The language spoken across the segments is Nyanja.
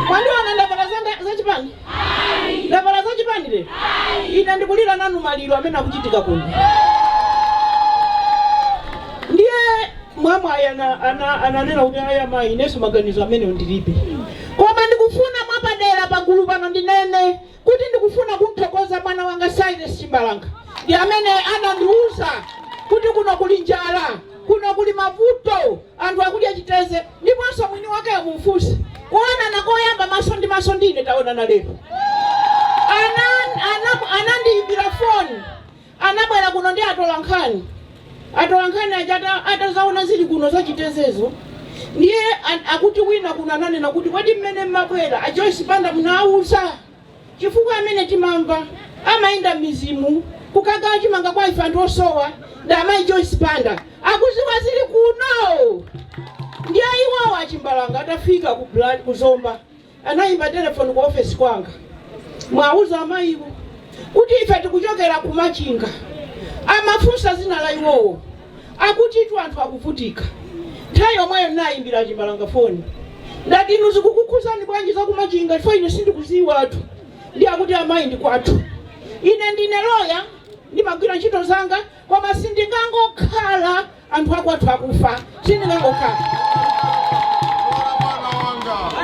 Mwandiona ndavala zanga za chipani? Ndavala za chipani lero? Ine ndikulira nanu maliro amene akuchitika kuno. Ndiye mwamwayi ana- ana- ananena kuti ayi amayi inenso maganizo amenewo ndilibe. Koma ndikufuna mwapadera pagulu pano ndinene kuti ndikufuna kumthokoza mwana wanga Silas Chimbalanga ndi amene anandiuza kuti kuno kuli njala, kuno kuli mavuto, anthu akudya chiteze. Ndiponso mwini wakeyo mumfunse. Kuonana koyamba maso ndi maso ndi ine taonana lero. Ana, ana, anandiimbira foni. Anabwera kuno ndi atolankhani. Atolankhani aja ata- atazaona zili kuno zachitezezo. Ndiye an- akuti wina kuno ananena kuti kodi mmene mmabwera a Joyce Banda munawauza. chifukwa amene timamva amayenda mmizimu kukagawa chimanga kwa ife anthu osowa ndi amayi joyce banda akuziwa zili kuno ndiye iwowo achimbalanga atafika ku Bla- ku zomba anayimba telefoni ku ofesi kwanga muwauze amayiwo kuti ife tikuchokera ku machinga amafunsa dzina la iwowo akutitu anthu akuvutika. Nthawi yomweyo ndinayimbira a Chimbalanga foni ndati, inu zikukukhuzani bwanji za ku Machinga chifukwa ine sindikuziwatu. Ndiye akuti amayi ndi kwathu. Ine ndine loya ndimagwira ntchito zanga koma sindingangokhala anthu akwathu akufa sindingangokhala.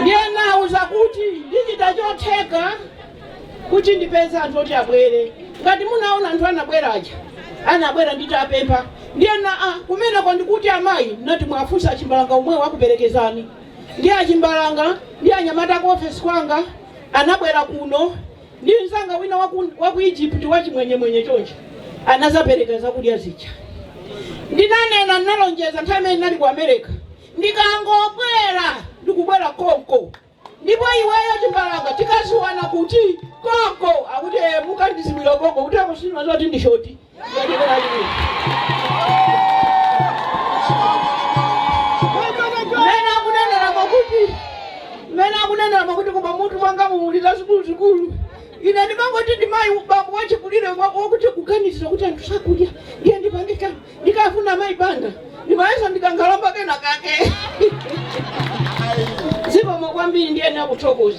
Ndiye ndinawauza kuti ndichita chotheka kuti ndipeze anthu oti abwere ngati munaona anthu anabwera aja anabwera nditapempha ndiye anati kumeneko ndi kuti amayi ndati muwafunse achimbalanga omwewo akuperekezani ndi achimbalanga ndi anyamata ku ofesi kwanga anabwera kuno ndi mzanga wina waku, waku egypt wachimwenyemwenye choncho anazapereka zakudya zija ndinanena ndinalonjeza nthawi imene ndinali ku america ndikangobwera ndikubwera konko ndipo iweyo chimbalanga tikaziwana kuti? konko akuti eh, mukandiziwira konko kuti akutsimikiza zoti ndi shoti mmene akunenera mwakuti mmene akunenera mwakuti koma mutu mwanga mumulira zikuluzikulu ine ndimangoti ndimayi bambo wachikulire wakuti kuganizira kuti anthu sakudya ndiye ndipangikana Ndikafuna Mayi Banda ndimayesa ndi kankhalamba kena kake. Zikomo kwambiri ndiyenera kuthokoza.